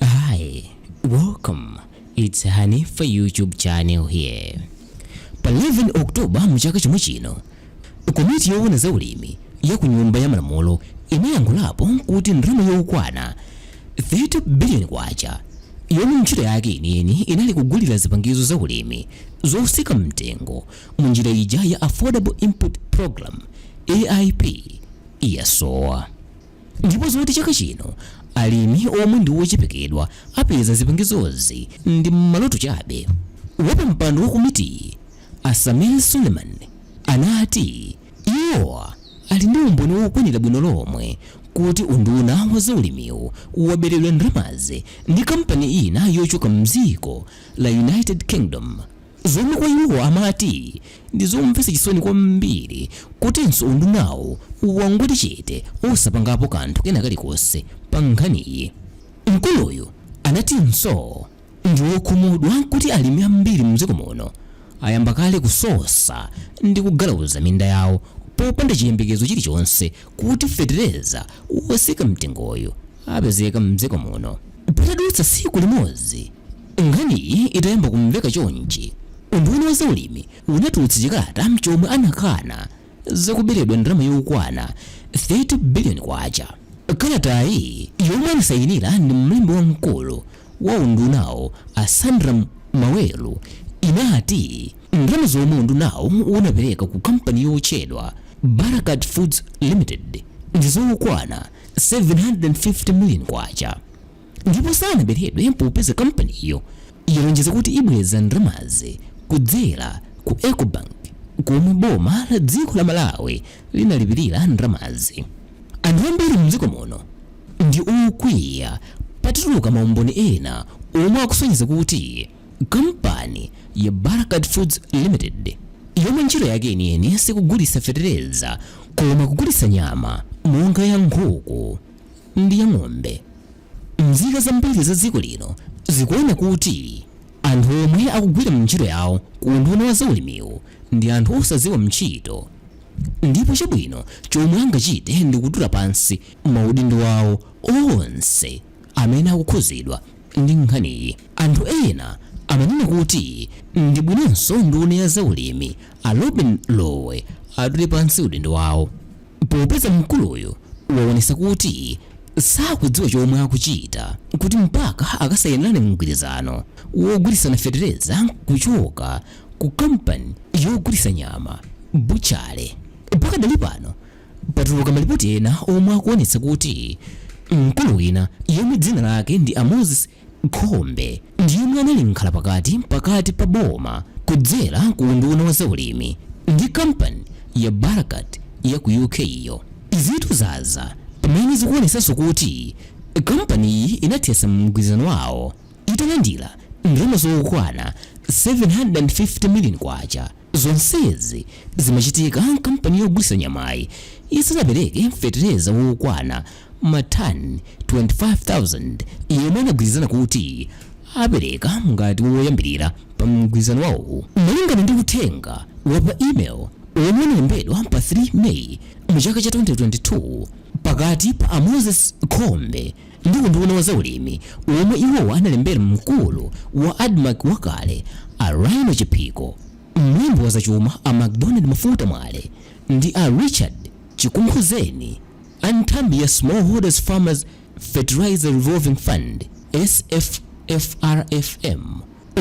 Hi, welcome. It's Hanifa YouTube channel here. Pa 11 Oktoba mchaka chomwe chino, komiti yoona za ulimi ya ku nyumba ya malamulo inayankhulapo kuti ndalama yokwana 30 billion kwacha yomwe ntchito yake yeniyeni inali kugulira zipangizo za ulimi zosika mtengo mu njira ija ya Affordable Input Program AIP yasowa. Ndipo zoti chaka chino alimi omwe ndi ochepekedwa apeza zipangizozi ndi maloto chabe. Wapampando wa komitiyi, a Sameer Suleman, anati iwowa ali ndi umboni wokwanira bwino lomwe kuti unduna wa zaulimiwu waberedwa ndalamazi ndi kampani ina yochoka m'dziko la United Kingdom. Zomwe kwa iwo amati ndi zomvetsa chisoni kwambiri kutinso undunawu wangoti chete osapangapo kanthu kena kalikonse pa nkhaniyi. Mkuluyu anatinso ndi okhumudwa kuti alimi ambiri mdziko muno ayamba kale kusosa ndi kugalauza minda yawo popanda chiyembekezo chilichonse kuti fetereza wotsika mtengoyu apezeka mdziko muno. Patadutsa tsiku limodzi Nkhaniyi itayamba kumveka chonchi, unduna wa zaulimi unatulutsa chikalata chomwe anakana za kuberedwa ndalama yokwana 30 billion kwacha. Kalatayi yomwe anasayinira ndi mlembi wamkulu wa undunawu a Sandram Maweru inati ndalama zomwe undunawu unapereka ku kampani yotchedwa Barkaat Foods Limited ndi zokwana 750 million kwacha. ndipo sanaberedwe popeza kampaniyo yalonjeza kuti ibweza ndalamazi kudzera ku Ecobank komwe boma la dziko la Malawi linalipirira ndalamazi. Anthu ambiri mdziko muno ndi okwiya patatuluka maumboni ena omwe akusonyeza kuti kampani ya Barkaat Foods Limited yomwe ntchito yake yeniyeni sikugulitsa fetereza koma kugulitsa nyama monga ya nkhuku ndi ya ng'ombe. Nzika zambiri za dziko lino zikuona kuti anthu omwe akugwira ntchito yawo ku unduna wa zaulimiwu ndi anthu osadziwa ntchito ndipo chabwino chomwe angachite ndi kutula pansi maudindo awo onse amene akukhudzidwa ndi nkhaniyi. Anthu ena amanena kuti ndi bwinonso nduna ya zaulimi a Lobin Lowe atule pansi udindo wawo. popeza mkuluyu waonesa kuti sakudziwa chomwe akuchita kuti mpaka akasayinirane mgwirizano wogulitsana fetereza kuchoka ku kampani yogulitsa nyama butchale pakadali pano patuluka malipoti ena omwe akuonetsa kuti mkulu wina yemwe dzina lake ndi a moses Khombe ndi yemwe anali mkhalapakati pakati pa boma kudzera ku unduna wa zaulimi ndi kampani ya Barakat ya ku UK yo. Izitu zadza pamene zikuonetsanso kuti kampaniyi inathetsa mgwirizano wawo italandira ndalama zokwana 750 million kwacha. Zonsezi zimachitika kampani yogulitsa nyamayi isanapereke fetereza wokwana ma tani 25,000 yomwe anagwirizana kuti apereka ngati woyambilira pa mgwirizano wawo. Malingana ndi uthenga wa pa email womwe unalembedwa pa 3 May mu chaka cha 2022 pakati pa a Moses Khombe, ndi unduna wa zaulimi womwe iwowa analembera mkulu wa Admarc wakale a Rhino Chiphiko, mlembi wa zachuma a Macdonald Mafuta Mwale ndi a Richard Chikunkhuzeni a nthambi ya Smallholders Farmers Fertiliser Revolving Fund, SFFRFM,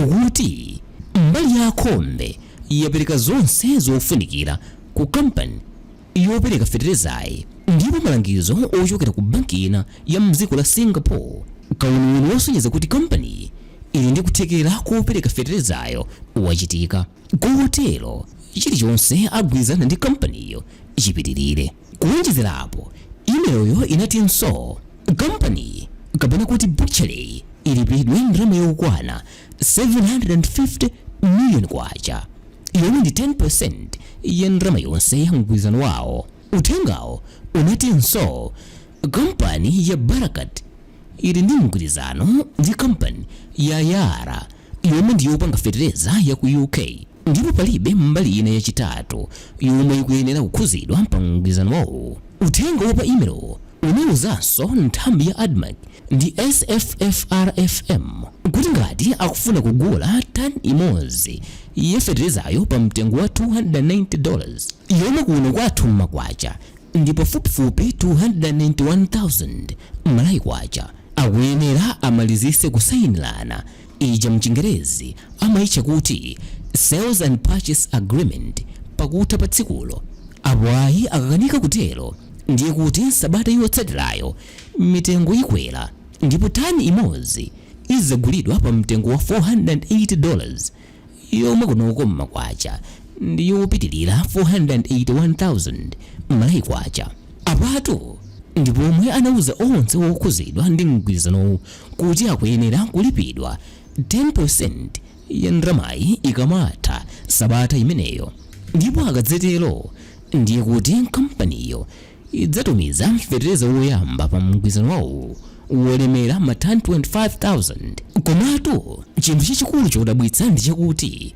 ukuti mbali ya a Khombe yapereka zonse zofunikira ku kampani yopereka feterezayi ndipo malangizo ochokera ku banki ina ya m'dziko la Singapore, kawuniwuni wosonyeza kuti kampaniyi ili ndi kuthekera kopereka feterezayo wachitika. Kotero, chilichonse agwirizana ndi kampaniyo chipitirire. Kuwonjezerapo, imelo-yo inatinso, Kampaniyi, kapena kuti butchery-yi, ilipidwe ndalama yokwana 750 million kwacha yomwe ndi 10% ya ndalama yonse ya mgwirizano wawo uthengawo unatinso kampani ya barakat ili ndi mgwirizano ndi kampani ya yara yomwe ndi yopanga fetereza ya ku uk Ndipo palibe mbali ina yachitatu yomwe ikuyenera kukhuzidwa pa mgwirizano wawo. Uthenga wa pa email-wo unauzanso nthambi ya Admarc ndi SFFRFM kuti ngati akufuna kugula tani imodzi ya fetereza-yo pa mtengo wa 290 dollars yomwe kuno kwathu m'makwacha ndi pafupifupi 291,000 Malawi Kwacha, akuyenera amalizitse kusayinirana Ija mchingerezi amaitcha kuti Sales and Purchase Agreement pakutha pa tsikulo. Apo ayi akakanika kutero ndiye kuti sabata yotsatirayo mitengo ikwera ndipo tani imodzi izagulidwa pa mtengo wa 480 dollars yomwe kunoko m'makwacha ndi yopitilira 481,000 Malawi Kwacha. Apatu ndi pomwe anauza onse okhuzidwa ndi mgwirizanowu kuti akuyenera kulipidwa 10% ya ndalamayi ikamatha sabata imeneyo ndipo akadzatero ndiye kuti kampaniyo idzatumiza fetereza woyamba pa mgwirizano wawo wolemera matani 25,000. Komatu chinthu chachikulu chodabwitsa ndi chakuti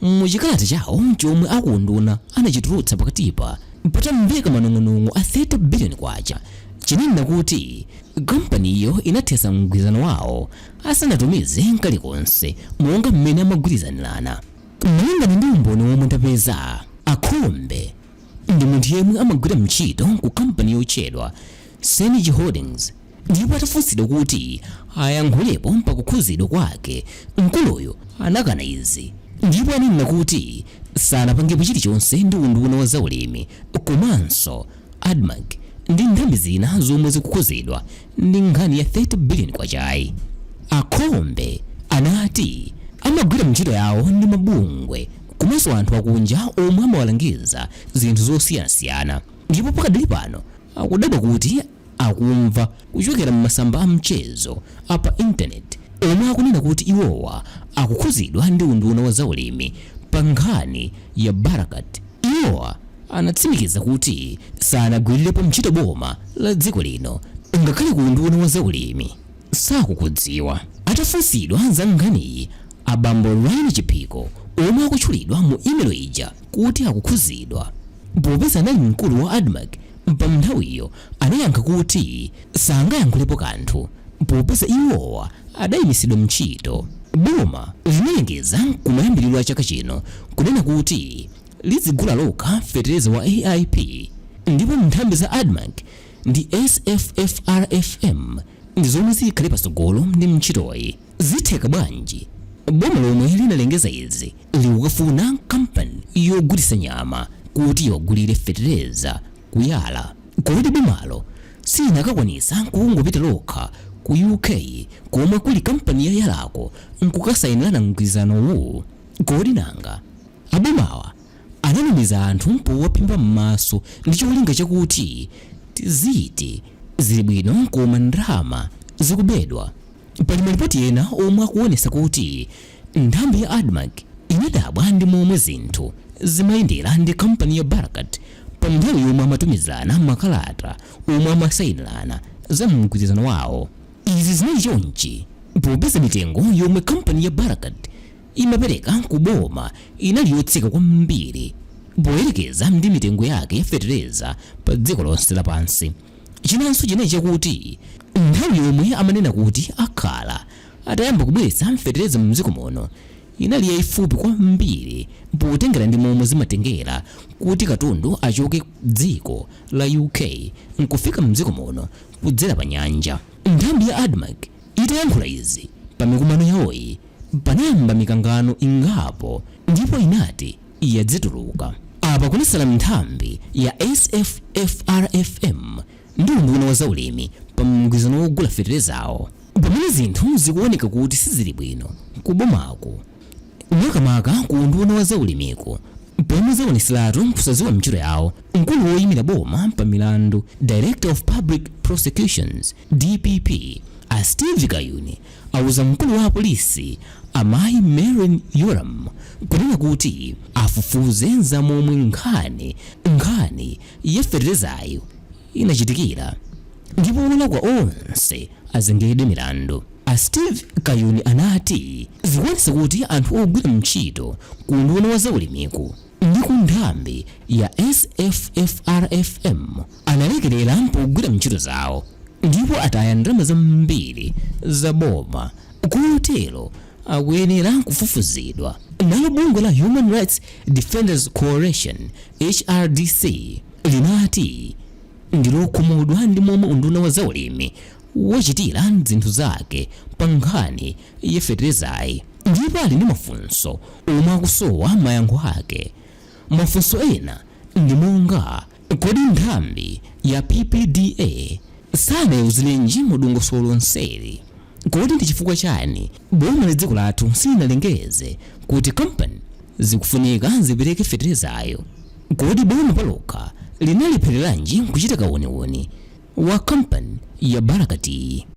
mu chikalata chawo chomwe a ku unduna anachitulutsa pakatipa patamveka manong'onong'o a 30 biliyoni kwacha, chinanena kuti kampaniyo inathesa mgwirizano wawo asanatumize kalikonse monga mmene amagwirizanirana. Malingana ndi umboni womwe ndapeza, a Khombe, ndi munthu yemwe amagwira mchito ku kampani yotchedwa Senergy Holdings ndipo atafunsidwa kuti ayankhulepo pa kukhuzidwa kwake mkuluyu anakana izi ndipo ananena kuti sanapangepo chilichonse ndi unduna wa zaulimi komanso Admarc ndi nthambi zina zomwe zikukhuzidwa ndi nkhani ya 30 billion kwachayi a Khombe anati amagwira ntchito yawo ndi mabungwe komanso anthu akunja omwe amawalangiza zinthu zosiyanasiyana ndipo pakadali pano akudabwa kuti akumva kuchokera m'masamba a mchezo a pa intaneti omwe akunena kuti iwowa akukhuzidwa ndi unduna wa zaulimi pa nkhani ya Barkaat Iwowa anatsimikiza kuti sanagwirirepo ntchito boma la dziko lino ngakhale ku unduna wa za ulimi sakukudziwa. Atafunsidwa za nkhaniyi a bambo Rhino Chiphiko omwe akutchulidwa mu imelo ija kuti akukhuzidwa popeza anali mkulu wa Admarc, Pa nthawiyo anayankha kuti sangayankhulepo kanthu popeza iwowa adayimisidwa ntchito. Boma linalengeza kumayambiriro a chaka chino kunena kuti lidzigula lokha fetereza wa AIP ndipo nthambi za Admarc ndi SFFRFM ndi zomwe zikhale patsogolo ndi ntchitoyi. Zitheka bwanji boma lomwe linalengeza izi likukafuna kampani yogulisa nyama kuti iwagulire fetereza ku Yara? Kodi bomalo silinakakwanisa kungopita lokha ku UK komwe kuli kampani ya Yarako nkukasainirana mgwirizanowu? Kodi nanga a bomawa ananamiza anthu powaphimba m'maso ndi cholinga chakuti tiziti zili bwino koma ndalama zikubedwa? Pali malipoti ena omwe akuonesa kuti nthambi ya admarc inadabwa ndi momwe zinthu zimayendera ndi kampani ya Barakat pa nthawi yomwe amatumizana makalata omwe amasainirana za mgwirizano wawo. Izi zinali chonchi popeza mitengo yomwe kampani ya Barakat imapereka ku boma inali yotsika kwambiri poyerekeza ndi mitengo yake ya fetereza pa dziko lonse lapansi. Chinanso chinali chakuti nthawi yomwe amanena kuti akhala atayamba kubweretsa fetereza mdziko muno inali yaifupi kwambiri potengera ndi momwe zimatengera kuti katundu achoke dziko la UK nkufika mdziko muno kudzera pa nyanja. Nthambi ya Admarc itayankhula izi pa mikumano yawoyi panayamba mikangano ingapo ndipo inati. yadzituluka. Apa kunasala nthambi ya SFFRFM ndi unduna wa zaulimi pa mgwirizano wogula feterezawo. Pamene zinthu zikuoneka kuti sizili bwino ku bomako, makamaka ku unduna wa zaulimiko pomwe zaoneseratu kusadziwa ntchito yawo, mkulu woimira boma pa milandu, Director of Public Prosecutions, dpp, a Steve Kayuni auza mkulu wa apolisi amayi Merlyne Yolamu kunena kuti afufuze za momwe nkhani nkhani ya feterezayo inachitikira ndipo olakwa onse azengedwe milandu a steve kayuni anati zikuonesa kuti anthu ogwira ntchito ku unduna wa zaulimiku ndi ku nthambi ya SFFRFM analekerera pogwira ntchito zawo ndipo ataya ndalama zambiri za boma kotero akuyenera kufufuzidwa nalo bungwe la human rights defenders coalition hrdc linati ndilokhumudwa ndi momwe unduna wa zaulimi wachitira zinthu zake pa nkhani ya feterezayi ndipo ali ndi mafunso omwe akusowa mayankho ake. Mafunso ena ndi monga, kodi nthambi ya PPDA sanaiuzirenji mu dongosolo lonseli? Kodi ndi chifukwa chani boma la dziko lathu silinalengeze kuti kampani zikufunika zipereke feterezayo? Kodi boma palokha linalephereranji kuchita kauniuni wa kampani ya Barakatiyi?